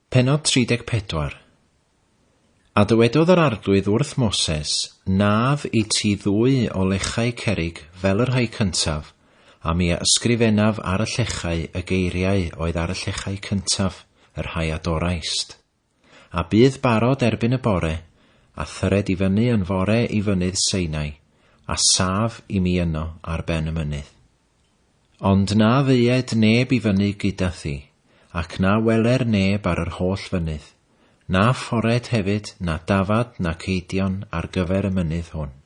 Pennod 34 A dywedodd yr Arglwydd wrth Moses, Naf i ti ddwy o lechau cerrig fel y rhai cyntaf, a mi a ysgrifennaf ar y llechau y geiriau oedd ar y llechau cyntaf, y rhai a doraist. A bydd barod erbyn y bore, a thyred i fyny yn fore i fynydd Seinai, a saf i mi yno ar ben y mynydd. Ond na ddeued neb i fyny gyda thi, ac na weler neb ar yr holl fynydd, na ffored hefyd, na dafad, na ceidion ar gyfer y mynydd hwn.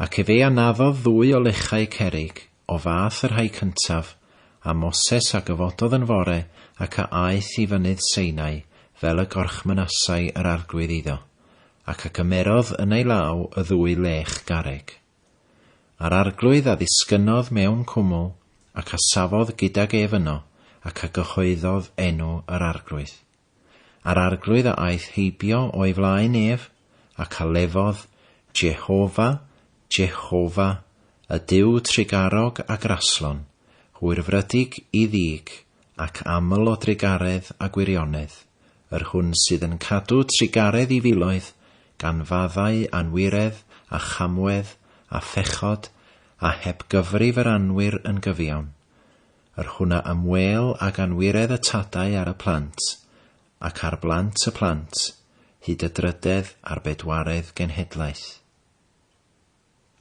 Ac efe a naddodd ddwy o lechau cerrig, o fath y rhai cyntaf, a Moses a gyfododd yn fore ac a aeth i fynydd Seinai, fel y gorchmynasai yr Arglwydd iddo, ac a gymerodd yn ei law y ddwy lech garreg. A'r Arglwydd a ddisgynnodd mewn cwmwl, ac a safodd gydag ef yno, ac a gyhoeddodd enw yr Arglwydd. A'r arglwydd a aeth heibio o'i flaen ef, ac a lefodd, Jehofa, Jehofa, y Duw trugarog a graslon, hwyrfrydig i ddig, ac aml o drugaredd a gwirionedd, yr hwn sydd yn cadw trugaredd i filoedd, gan faddau anwiredd a chamwedd a phechod, a heb gyfrif yr anwir yn gyfiawn. yr hwnna am wêl ag anwiredd y tadau ar y plant, ac ar blant y plant, hyd y drydedd a'r bedwaredd genhedlaeth.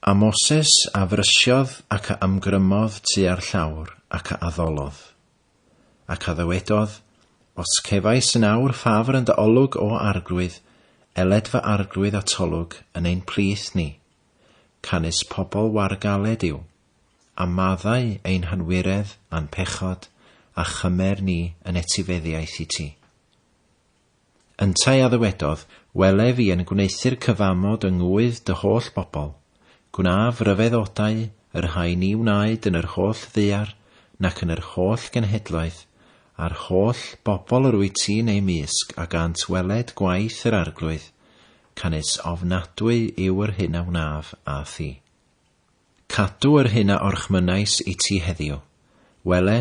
A Moses a frysiodd ac a ymgrymodd tua'r llawr ac a addolodd. Ac a ddywedodd, Os cefais yn awr ffafr yn dy olwg, O Arglwydd, eled fy arglwydd atolwg yn ein plith ni. Canys pobl wargaled yw. A maddau ein hanwiredd a'n pechod, a chymer ni yn etifeddiaeth i ti. Yntau a ddywedodd, Welef i yn gwneuthur cyfamod yng ngŵydd dy holl bobl, gwnaf ryfedd odau yr rhai ni wnaed yn yr holl ddaear, nac yn yr holl genhedloedd, a'r holl bobl yr wyt ti'n eu mysg a gant weled gwaith yr Arglwydd, canys ofnadwy yw yr hyn a wnaf â thi. Cadw yr hyn a orchmynnais i ti heddiw. Wele,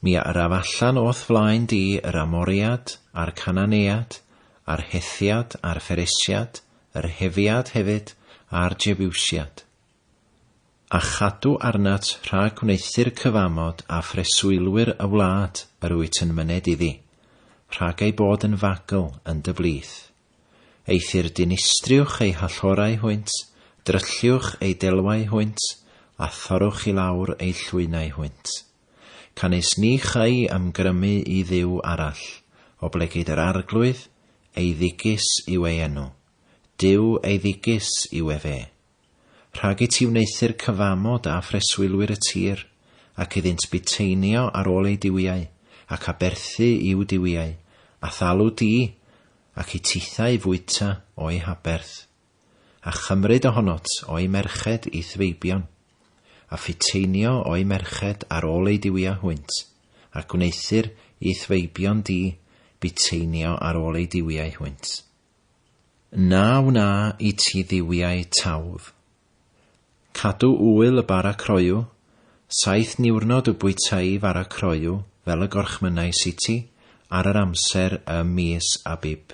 mi a yraf allan o'th flaen di yr Amoread, a'r Cananead, a'r Hethiad, a'r Pheresiad, yr Hefiad hefyd, a'r Jebusiad. A chadw arnat rhag wneuthur cyfamod â phreswylwyr y wlad yr wyt yn myned iddi, rhag eu bod yn fagl yn dy blith. Eithr dinistriwch ei hallorau hwynt, drylliwch ei delwau hwynt, a thorrwch i lawr ei llwynau hwynt. Canys ni châi ymgrymu i dduw arall, oblegid yr Arglwydd, eiddigis yw ei enw, Duw eiddigis yw efe. Rhag i ti wneuthur cyfamod â phreswylwyr y tir, ac iddynt buteinio ar ôl eu duwiau, ac aberthu i'w duwiau, a thalw di, ac i tithau fwyta o'u haberth, a chymryd ohonot o'u merched i'th feibion, a phuteinio o'u merched ar ôl eu duwiau hwynt, a gwneuthur i'th feibion di buteinio ar ôl eu duwiau hwynt. Na wna i ti dduwiau tawdd. Cadw ŵyl y bara croyw, saith niwrnod y bwytai fara croyw fel y gorchmynnais i ti ar yr amser ym mis Abib.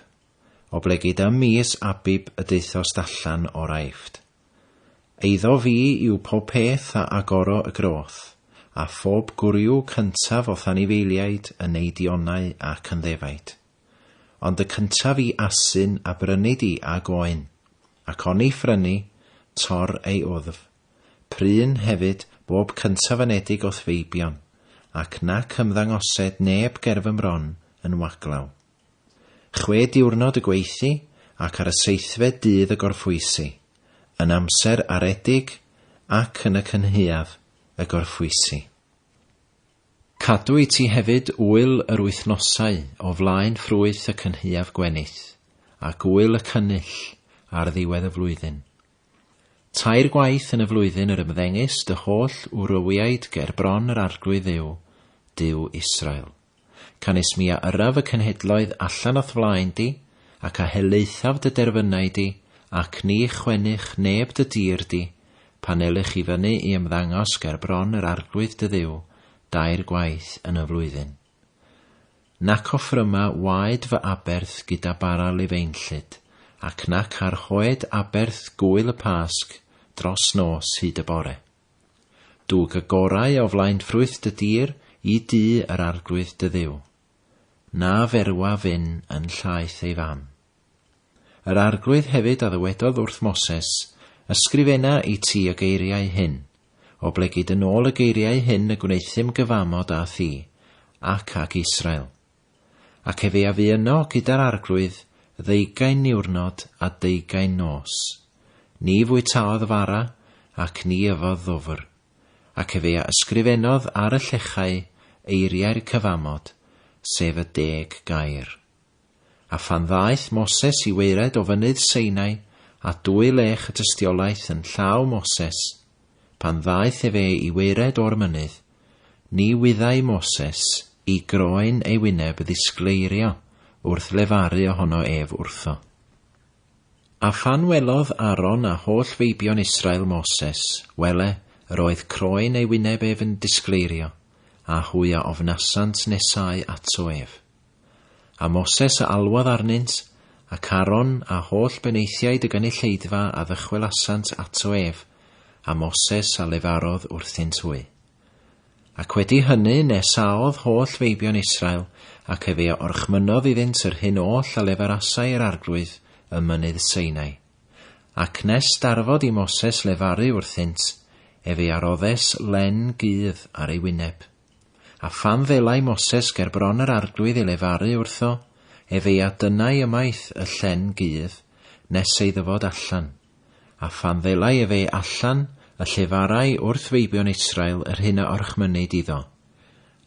Oblegid ym mis Abib y deuthost allan o'r Aifft. Eiddo fi yw pob peth a agoro y groth, a phob gwryw cyntaf o'th anifeiliaid yn neidionau ac yn ddefaid. Ond y cyntaf i asyn a brynu di ag oen, ac oni phrynu, tor ei wddf. Pryn, hefyd, bob cyntaf anedig o'th feibion, ac nac ymddangosed neb ger fy mron yn waglaw. Chwe diwrnod y gweithi, ac ar y seithfed dydd y gorffwysi, yn amser aredig ac yn y cynhaeaf y gorffwysi. Cadw i ti hefyd ŵyl yr wythnosau o flaen ffrwyth y cynhaeaf gwenith, ac ŵyl y cynnull ar ddiwedd y flwyddyn. Tair gwaith yn y flwyddyn yr ymddengys dy holl wrywiaid ger bron yr Arglwydd Dduw, Duw Israel. Canys mi a yrraf y cenhedloedd allan o'th flaen di, ac a helaethaf dy derfynau di, ac ni chwennych neb dy dir di, pan ewlych i fyny i ymddangos ger bron yr Arglwydd dy Dduw dair gwaith yn y flwyddyn. Nac offryma waed fy aberth gyda bara lifeinllyd, ac nac ar hoe-d aberth gŵyl y Pasg dros nos hyd y bore. Dwg y gorau o flaen ffrwyth dy dir i dŷ yr Arglwydd dy Dduw. Na ferwa fyn yn llaeth ei fam. Yr Arglwydd hefyd a ddywedodd wrth Moses, Ysgrifena i ti y geiriau hyn, oblegid yn ôl y geiriau hyn y gwneuthum gyfamod â thi, ac ag Israel. Ac efe a fu yno gyda'r Arglwydd ddeugain niwrnod a deugain nos. Ni fwytaodd fara, ac ni yfodd ddwfr. Ac efe a ysgrifenodd ar y llechau eiriau'r cyfamod, sef y deg gair. A phan ddaeth Moses i waered o fynydd Seinai, a dwy lech y tystiolaeth yn llaw Moses, pan ddaeth efe i waered o'r mynydd, ni wyddai Moses i groen ei wyneb ddisgleirio wrth lefaru ohono ef wrtho. A phan welodd Aaron a holl feibion Israel Moses, wele, yr oedd croen ei wyneb ef yn disgleirio, a hwy a ofnasant nesau ato ef. A Moses a alwodd arnynt, ac Aaron, a holl benaethiaid y gynulleidfa a ddychwelasant ato ef, a Moses a lefarodd wrthynt hwy. Ac wedi hynny nes aodd holl feibion Israel, ac efe a orchmynnodd iddynt yr hyn oll a lefarasai yr arglwydd ym mynydd Sinai. Ac nes darfod i Moses lefaru wrthynt, efe a roddes len gudd ar ei wyneb. A phan ddelai Moses ger bron yr arglwydd i lefaru wrtho, ef ei a dynnai ymaith y llen gudd, nes ei ddyfod allan. A phan ddelai ef ei allan, y llefarai wrth feibion Israel yr hyn a orchmynid iddo.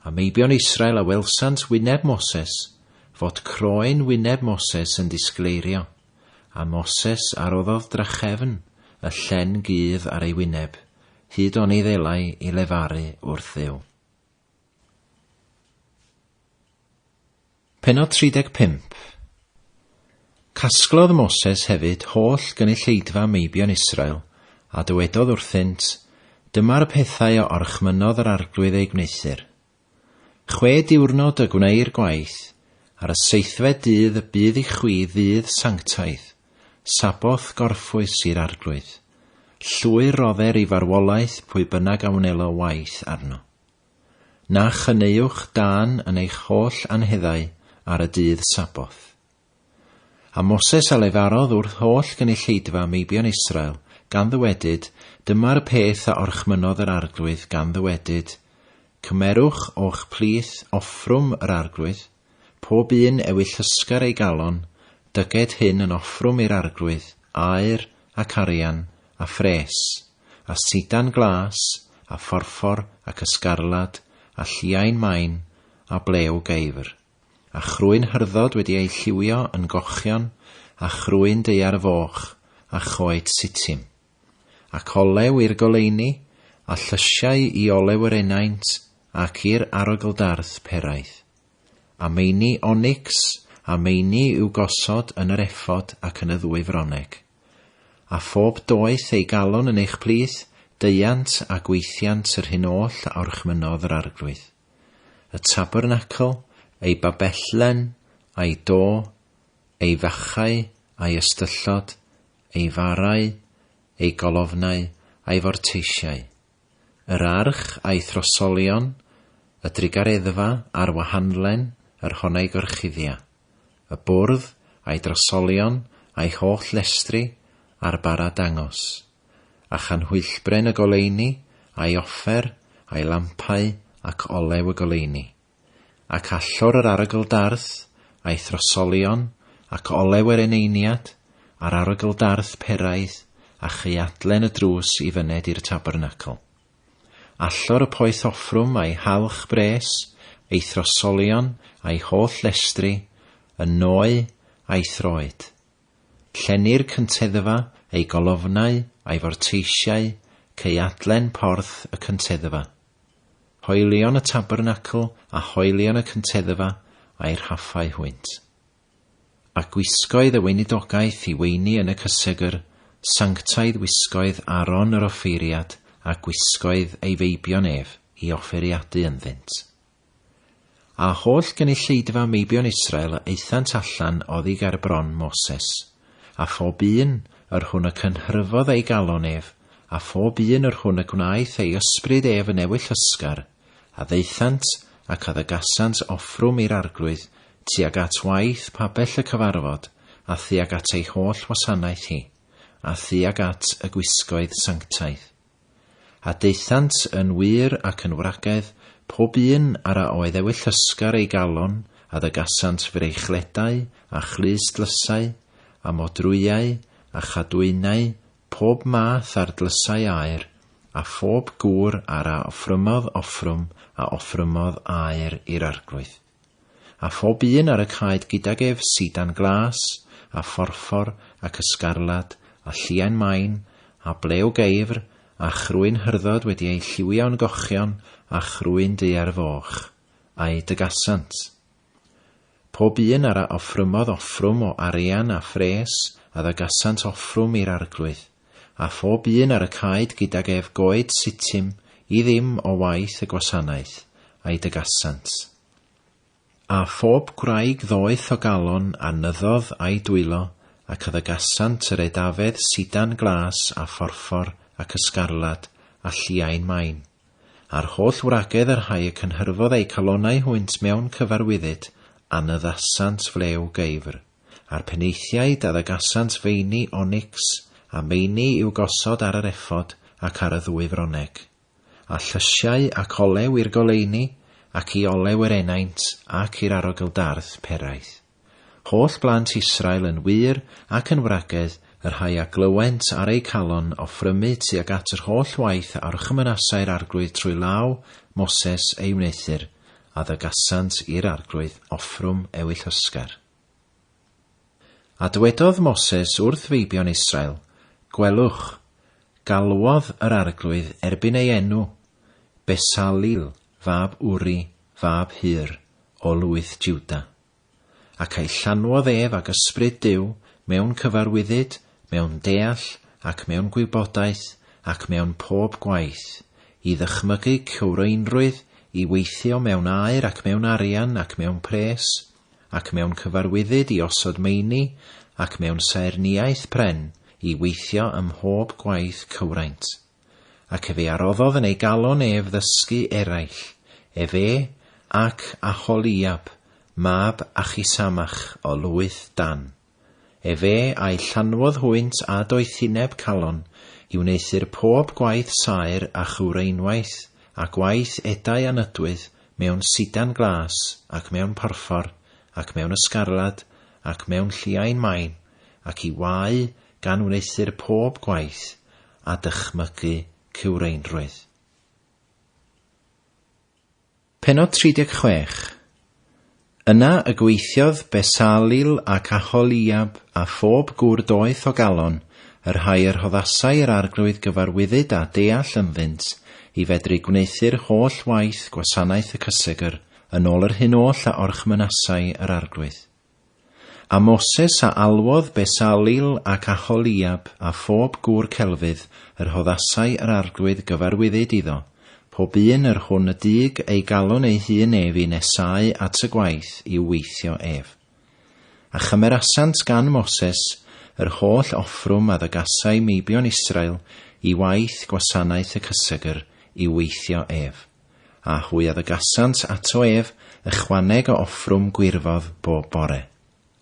A meibion Israel a welsant wyneb Moses, fod croen wyneb Moses yn disgleirio. A Moses a roddodd drachefn y llen gudd ar ei wyneb, hyd oni ddelai i lefaru wrth Dduw. Penod 35 Casglodd Moses hefyd holl gynulleidfa meibion Israel, a dywedodd wrthynt, Dyma'r pethau a orchmynnodd yr arglwydd eu gwneuthur, Chwe diwrnod y gwneir gwaith, ar y seithfed dydd y bydd i chwi ddydd sanctaidd, Sabboth gorffwys i'r Arglwydd. Llwyr rodder i farwolaeth pwy bynnag a wnelo waith arno. Na chyneuwch dân yn eich holl anheddau ar y dydd Sabboth. A Moses a lefarodd wrth holl gynulleidfa meibion Israel, gan ddywedyd, Dyma'r y peth a orchmynnodd yr Arglwydd, gan ddywedyd, Cymerwch o'ch plith offrwm yr Arglwydd, pob un ewi llysgar ei galon, dyged hyn yn offrwm i'r Arglwydd, aur, ac arian, a phres, a sidan glas, a phorffor, ac ysgarlad, a lliain main, a blew geifr. A chrwyn hyrddod wedi ei lliwio yn gochion, a chrwyn daear foch, a choed Sittim. Ac olew i'r goleuni, a llysiau i olew yr enaint, ac i'r arogl-darth peraeth. A meini onics, a meini i'w gosod yn yr efod ac yn y ddwy froneg. A phob doeth ei galon yn eich plith, deuant a gweithiant yr hyn oll a orchmynnodd yr Arglwydd. y tabernacl, ei babellen, a'i do, ei fachau, a'i ystyllod, ei farau, ei golofnau, a'i forteisiau, yr arch a'i throsolion, y drugareddfa a'r wahanlen yr honnai gorchuddia, y bwrdd a'i drosolion a'i holl lestri, a'r bara dangos. a chanhwyllbren y goleuni, a'i offer, a'i lampau, ac olew y goleuni. Ac allor yr arogl darth, a'i throsolion, ac olew yr eneiniad, a'r arogl darth peraidd, a chaeadlen y drws i fyned i'r tabernacl. Allor y poeth offrwm a'i halch bres, ei throsolion, a'i holl lestri, y nôu, a'i throed. Llenir cynteddfa, ei golofnau a'i forteisiau, ceuadlen porth y cynteddfa, hoelion y tabernacl a hoelion y cynteddfa a'i rhaffau hwynt. A gwisgoedd y weinidogaeth i weini yn y cysegr, sanctaidd wisgoedd Aaron yr offeiriad a gwisgoedd ei feibion ef i offeiriadu ynddynt. A holl gynulleidfa meibion Israel a aethant allan oddi ger bron Moses, a phob un yr hwn y cynhryfodd ei galon ef, a phob un yr hwn y gwnaeth ei ysbryd ef yn ewyll ysgar, a ddaethant ac a ddygasant offrwm i'r Arglwydd tuag at waith pabell y cyfarfod, a thuag at ei holl wasanaeth hi, a thuag at y gwisgoedd sanctaidd. A daethant yn wŷr ac yn wragedd, pob un ar a oedd ewyllysgar ei galon, a ddygasant freichledau, a chlust-lysau, a modrwyau, a chadwynau, pob math ar dlysau aur, a phob gŵr ar a offrymodd offrwm a offrymodd aur i'r Arglwydd. A phob un ar y caed gydag ef sidan glas, a phorffor, ac ysgarlad, a lliain main, a ble o geifr, a chrwyn hyrddod wedi eu lliwio'n gochion, a chrwyn du ar y foch. A'u dygasant. Pob un ar a offrymodd offrwm o arian a phres, a ddygasant offrwm i'r Arglwydd. a phob un ar y caed gydag ef goed sitym i ddim o waith y gwasanaeth, a'i dygasant. A phob gwraig ddoeth o galon a nyddodd a'i dwylo, ac a ddygasant yr edafedd sidan glas a phorffor ac ysgarlad a lliain main, a'r holl wragedd y rhai y cynhyrfodd eu calonau hwynt mewn cyfarwyddyd, a nyddasant flew geifr. a'r penaethiaid a ddagasant feini onics a meini i'w gosod ar yr ephod ac ar y ddwy froneg, a llysiau ac olew i'r goleuni, ac i olew yr enaint, ac i'r arogl-darth peraeth. Holl blant Israel yn wŷr ac yn wragedd, y rhai a glywent ar eu calon offrymu tuag at yr holl waith a orchymynasai'r Arglwydd trwy law Moses ei wneuthur, a ddygasant i'r Arglwydd offrwm ewyllysgar. A dwedodd Moses wrth feibion Israel, Gwelwch, galwodd yr Arglwydd erbyn ei enw, Besalil fab Uri fab Hur o lwyth Juda. Ac a'i llanwodd ef ag Ysbryd Duw, mewn cyfarwyddyd, mewn deall, ac mewn gwybodaeth, ac mewn pob gwaith, i ddychmygu cywreinrwydd, i weithio mewn aer ac mewn arian ac mewn pres, ac mewn cyfarwyddyd i osod meini, ac mewn saerniaeth pren, i weithio ym mhob gwaith cywraint. Ac efe a roddodd yn ei galon ef ddysgu eraill, efe ac Aholiab mab Achisamach o lwyth Dan. Efe a'i llanwodd hwynt â doethineb calon i wneuthur pob gwaith saer a chywreinwaith, a gwaith edau a nydwydd, mewn sidan glas, ac mewn porffor, ac mewn ysgarlad, ac mewn lliain main, ac i wau gan wneuthur pob gwaith a dychmygu cywreinrwydd. Pennod 36. Yna y gweithiodd Besalil ac Aholiab a phob gŵr doeth o galon, y rhai y rhoddasai yr Arglwydd gyfarwyddyd a deall ynddynt, i fedru gwneuthur holl waith gwasanaeth y cysegr, yn ôl yr hyn oll a orchmynasai yr Arglwydd. A Moses a alwodd Besalil ac Aholiab a phob gŵr celfydd, yr hoddasai yr arglwydd gyfarwyddyd iddo, pob un yr hwn y dug ei galon ei hun ef i nesáu at y gwaith i'w weithio ef. A chymerasant gan Moses yr holl offrwm a ddygasai meibion Israel i waith gwasanaeth y cysegr i'w weithio ef. a hwy addegasant ato ef ychwaneg o offrwm gwirfodd bob bore.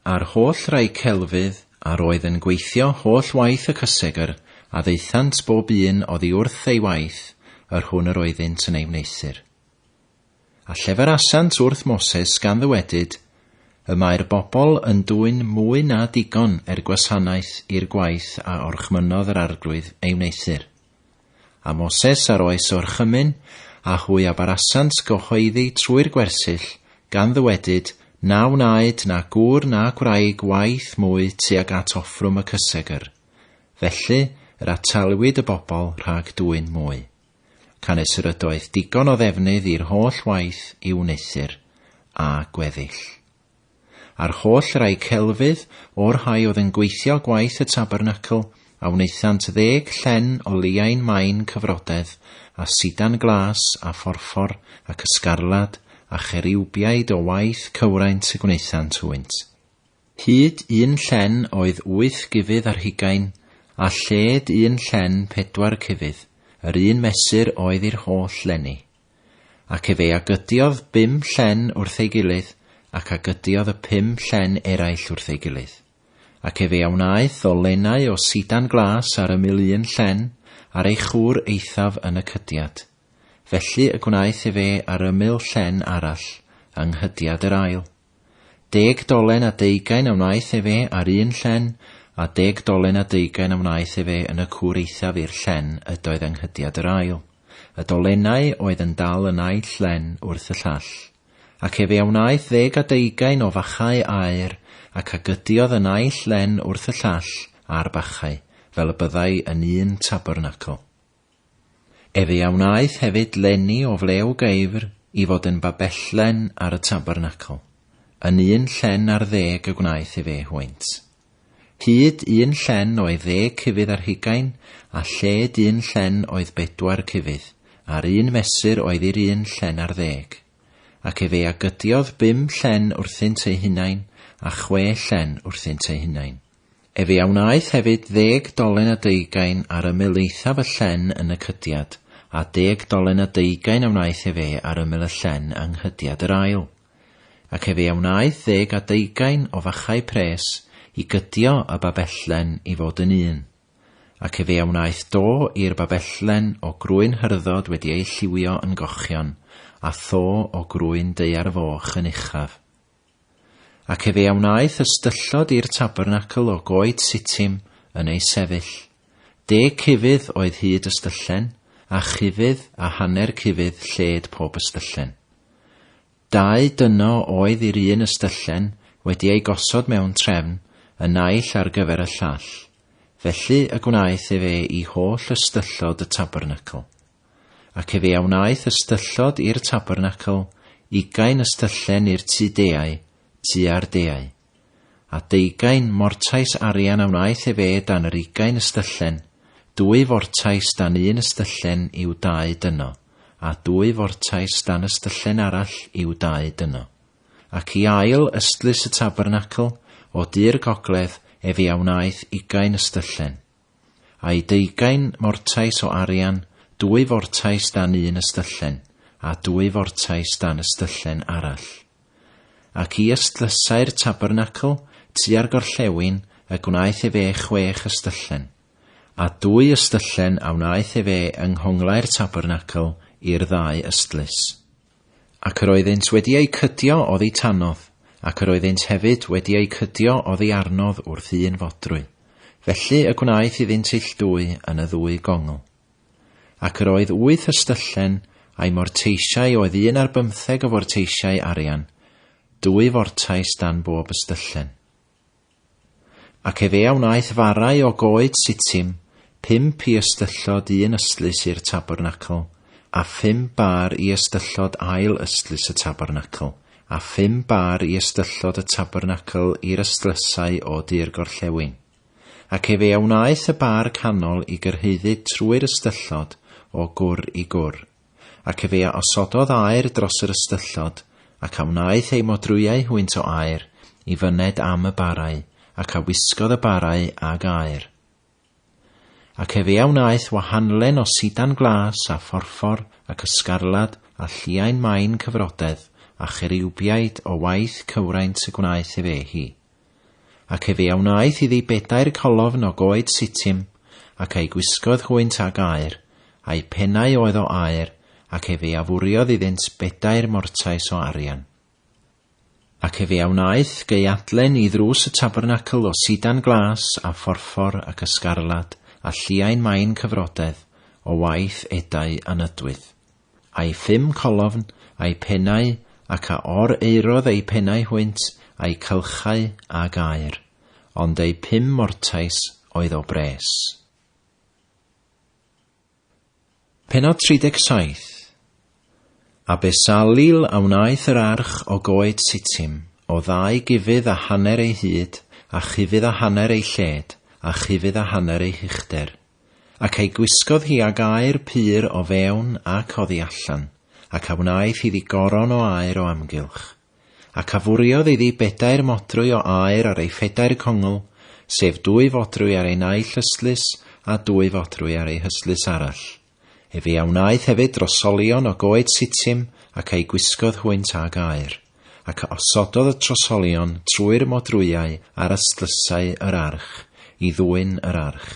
A'r holl rai celfydd a'r oedd yn gweithio holl waith y cysegr, a ddaethant bob un oddi wrth ei waith, yr hwn yr oeddynt yn ei wneuthur. A lleferasant wrth Moses gan ddywedyd, Y mae'r bobl yn dwyn mwy na digon er gwasanaeth i'r gwaith a orchmynnodd yr arglwydd ei wneuthur. A Moses ar oes orchymyn, a hwy a barasant gyhoeddi trwy'r gwersyll, gan ddywedyd, Na wnaed na gŵr na gwraig waith mwy tuag at offrwm y cysegr. Felly, yr atalwyd y bobl rhag dwyn mwy. Canys yr ydoedd digon o ddefnydd i'r holl waith i'w wneuthur, a gweddill. A'r holl rai celfydd, o'r rhai oedd yn gweithio gwaith y tabernacl, a wnaethant ddeg llen o leiain main cyfrodedd, a sidan glas, a phorffor, ac ysgarlad, a cheriwbiaid o waith cywraint y gwnaethant hwynt. Hyd un llen oedd wyth gufydd ar hugain, a lled un llen pedwar cufydd, yr un mesur oedd i'r holl lenni. Ac efe a gydiodd bum llen wrth ei gilydd, ac a gydiodd y pum llen eraill wrth ei gilydd. Ac efe a wnaeth o lennau o sidan glas ar ymyl un llen, ar ei chwr eithaf yn y cydiad. Felly y gwnaeth efe ar ymyl llen arall, yng nghydiad yr ail. Deg dolen a deugain a wnaeth efe ar un llen, a deg dolen a deugain a wnaeth efe yn y cwr eithaf i'r llen ydoedd anghydiad yr ail, y dolenau oedd yn dal y naill llen wrth y llall. Ac efe a wnaeth ddeg a deugain o fachau aur, ac a gydiodd y naill llen wrth y llall â'r bachau, fel y byddai yn un tabernacl. Efe a wnaeth hefyd lenni o flew geifr i fod yn babellen ar y tabernacl, yn un llen ar ddeg y gwnaeth efe hwynt. Hyd un llen oedd ddeg cufydd ar hugain, a lled un llen oedd bedwar cufydd, a'r un mesur oedd i'r un llen ar ddeg. Ac efe a gydiodd bum llen wrthynt eu hunain, a chwe llen wrthynt eu hunain. Efe a wnaeth hefyd ddeg dolen a deugain ar ymyl eithaf y llen yn y cydiad, a deg dolen a deugain a wnaeth efe ar ymyl y llen yng nghydiad yr ail. Ac efe a wnaeth ddeg a deugain o fachau pres i gydio y babellen i fod yn un. Ac efe a wnaeth do i'r babellen o grwyn hyrddod wedi ei lliwio yn gochion, a tho o grwyn daear foch yn uchaf. Ac efe a wnaeth ystyllod i'r tabernacl o goed sitim yn ei sefyll. Deg cufydd oedd hyd ystyllen, a chufydd a hanner cufydd lled pob ystyllen. Dau dyno oedd i'r un ystyllen wedi ei gosod mewn trefn, y naill ar gyfer y llall. Felly y gwnaeth efe i holl ystyllod y tabernacl. Ac efe a wnaeth ystyllod i'r tabernacl, ugain ystyllen i'r tŷ deau, tŷ a'r deau. A deugain mortais arian a wnaeth efe dan yr ugain ystyllen, dwy fortais dan un ystyllen i'w dau dyno, a dwy fortais dan ystyllen arall i'w dau dyno. Ac i ail ystlys y tabernacl, o du'r gogledd, efe a wnaeth ugain ystyllen. A'i deugain mortais o arian, dwy fortais dan un ystyllen, a dwy fortais dan ystyllen arall. Ac i ystlysau'r tabernacl, tua'r gorllewin, y gwnaeth efe chwech ystyllen. A dwy ystyllen a wnaeth efe yng nghonglau'r tabernacl i'r ddau ystlys. Ac yr oeddynt wedi eu cydio oddi tanodd, ac yr oeddynt hefyd wedi eu cydio oddi arnodd wrth un fodrwy, felly y gwnaeth iddynt illddwy yn y ddwy gongl. Ac yr oedd wyth ystyllen, a'i morteisiau oedd un ar bymtheg o forteisiau arian, dwy fortais dan bob ystyllen. Ac efe a wnaeth farau o goed sitim, pump i ystyllod un ystlys i'r tabernacl, a phum bâr i ystyllod ail ystlys y tabernacl, a phum bâr i ystyllod y tabernacl i'r ystlysau o du'r gorllewin. Ac efe a wnaeth y bâr canol i gyrhaeddu trwy'r ystyllod, o gwr i gwr. Ac efe a osododd aer dros yr ystyllod, ac a wnaeth ei modrwyau hwynt o aer, i fyned am y barau, ac a wisgodd y barau ag aer. Ac efe a wnaeth wahanlen o sidan glas, a phorffor, ac ysgarlad, a lliain main cyfrodedd, a cheriwbiaid o waith cywraint y gwnaeth efe hi. Ac efe a wnaeth iddi bedair colofn o goed Sittim, ac a'i gwisgodd hwynt ag aur, a'u pennau oedd o aur, ac efe a fwriodd iddynt bedair mortais o arian. Ac efe a wnaeth geuadlen i ddrws y tabernacl o sidan glas, a phorffor, ac ysgarlad, a lliain main cyfrodedd, o waith edau anydwydd. A'i phum colofn, a'i pennau, ac a or eurodd eu pennau hwynt, a'u cylchau â gaer, ond eu pum mortais oedd o bres. Pennod 37 A Besalil a wnaeth yr arch o goed Sitim, o ddau gufydd a hanner ei hyd, a chufydd a hanner ei lled, a chufydd a hanner ei huchder. Ac ei gwisgodd hi ag aer pur o fewn ac oddi allan, ac a wnaeth iddi goron o aer o amgylch. Ac a fwriodd iddi bedair modrwy o aer ar ei phedair congl, sef dwy fodrwy ar ei naill ystlys, a dwy fodrwy ar ei hystlys arall. Efe a wnaeth hefyd drosolion o goed Sittim, ac a'i gwisgodd hwynt ag aer. ac a osododd y trosolion trwy'r modrwyau ar ystlysau yr arch, i ddwyn yr arch.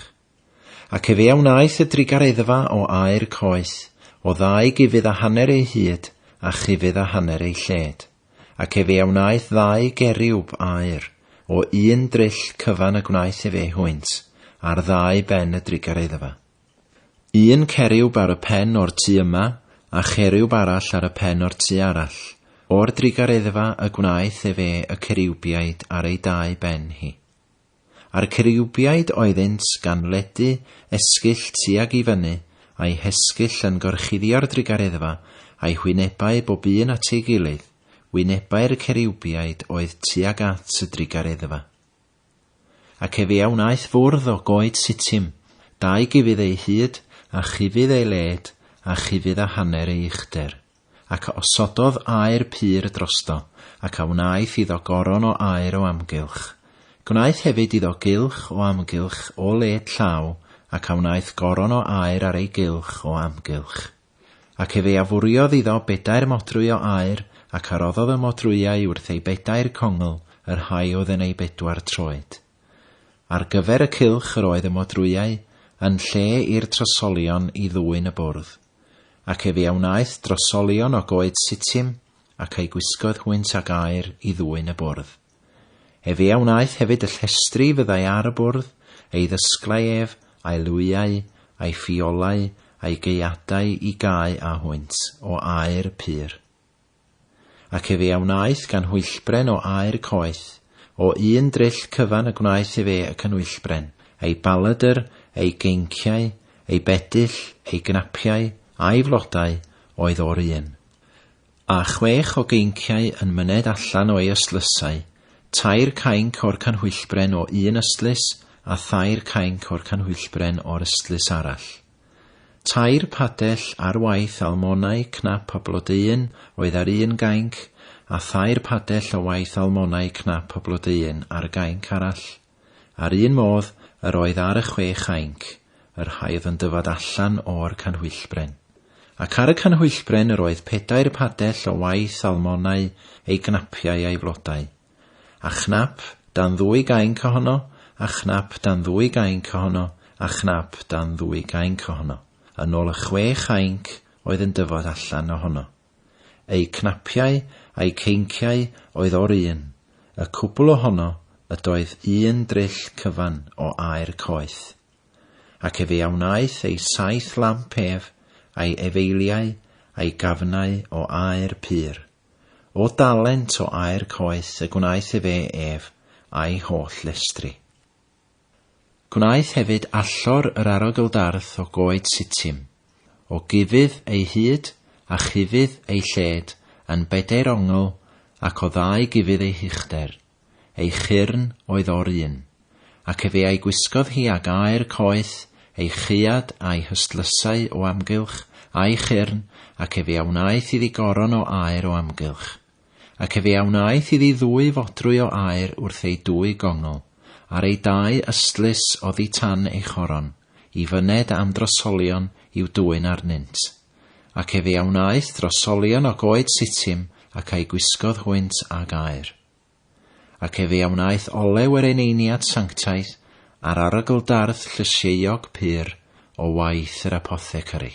Ac efe a wnaeth y drugareddfa o aer coeth, o ddau gufudd a hanner ei hyd, a chufudd a hanner ei lled, ac efe a wnaeth ddau geriwb aer, o un dryll cyfan y gwnaeth efe hwynt, ar ddau ben y drugareddfa. Un ceriwb ar y pen o'r tu yma, a cheriwb arall ar y pen o'r tu arall, o'r drugareddfa y gwnaeth ef e y ceriwbiaid ar ei dau ben hi. A'r ceriwbiaid oeddynt gan ledu esgyll tuag i fyny, a'u hesgyll yn gorchuddio'r drugareddfa, a'u hwynebau bob un at ei gilydd, wynebau'r ceriwbiaid oedd tuag at y drugareddfa. Ac efe a wnaeth fwrdd o goed sitim, dau gufydd ei hyd, a chufydd ei led, a chufydd a hanner ei uchder. Ac a osododd aer pur drosto, ac a wnaeth iddo goron o aer o amgylch. Gwnaeth hefyd iddo gylch o amgylch o led llaw, ac a wnaeth goron o aer ar ei gylch o amgylch. Ac efe a fwriodd iddo bedair modrwy o aur, ac a roddodd y modrwyau wrth ei bedair congl, yr rhai oedd yn ei bedwar troed. Ar gyfer y cylch yr oedd y modrwyau, yn lle i'r trosolion i ddwyn y bwrdd. Ac efe a wnaeth drosolion o goed Sitim, ac eu gwisgoedd hwynt ag aur i ddwyn y bwrdd. Ef a wnaeth hefyd y llestri fyddai ar y bwrdd, ei ddysglau ef, a'i lwyau, a'i ffiolau, a'i gaeadau i gau â hwynt o aer pur. Ac ef a wnaeth gan hwyllbren o aer coeth, o un dryll cyfan y gwnaeth ef e y cynwyllbren, ei baladr, ei geinciau, ei bedyll, ei gnapiau, a'i flodau, oedd o'r un. Â chwech o geinciau yn myned allan o ei ystlysau, tair cainc o'r canhwyllbren o un ystlys a thair cainc o'r canhwyllbren o'r ystlys arall. Tair padell ar waith almonau cnap a blodeuyn oedd ar un gainc, a thair padell o waith almonau cnap a blodeuyn ar gainc arall. A'r un modd yr oedd ar y chwe chainc, yr haodd yn dyfad allan o'r canhwyllbren. Ac ar y canhwyllbren yr oedd pedair padell o waith almonau, ei gnapiau a'i flodau. A chnap dan ddwy gainc ohono, a chnap dan ddwy gainc ohono, a chnap dan ddwy gainc ohono, yn ôl y chwe chainc oedd yn dyfod allan ohono. Eu cnapiau a'u ceinciau oedd o'r un, y cwbl o hono ydoedd un dryll cyfan o aer coeth. Ac efe a wnaeth ei saith lamp ef, a'i efeiliau, a'i gafnau o aer pur. O dalent o aer coeth y gwnaeth efe ef a'i holl lestri. Gwnaeth hefyd allor yr arogl darth o goed Sittim, o gufudd ei hyd a chufudd ei lled yn bedair ongl ac o ddau gufudd ei huchder, ei chyrn oedd o'r un, ac efe a'i gwisgodd hi ag aer coeth, ei chaead a'i hystlysau o amgylch, a'i chyrn, ac efe a wnaeth iddi goron o aer o amgylch. Ac efe a wnaeth iddi ddwy fodrwy o aer wrth ei dwy gongl, ar ei dau ystlys oddi tan ei choron, i fyned am drosolion i'w dwyn arnynt. Ac efe a wnaeth drosolion o goed Sitim, ac a'i gwisgodd hwynt ag aer. Ac efe a wnaeth olew yr eneiniad sanctaidd, ar arogl dardd llysieuog pur, o waith yr apothecary.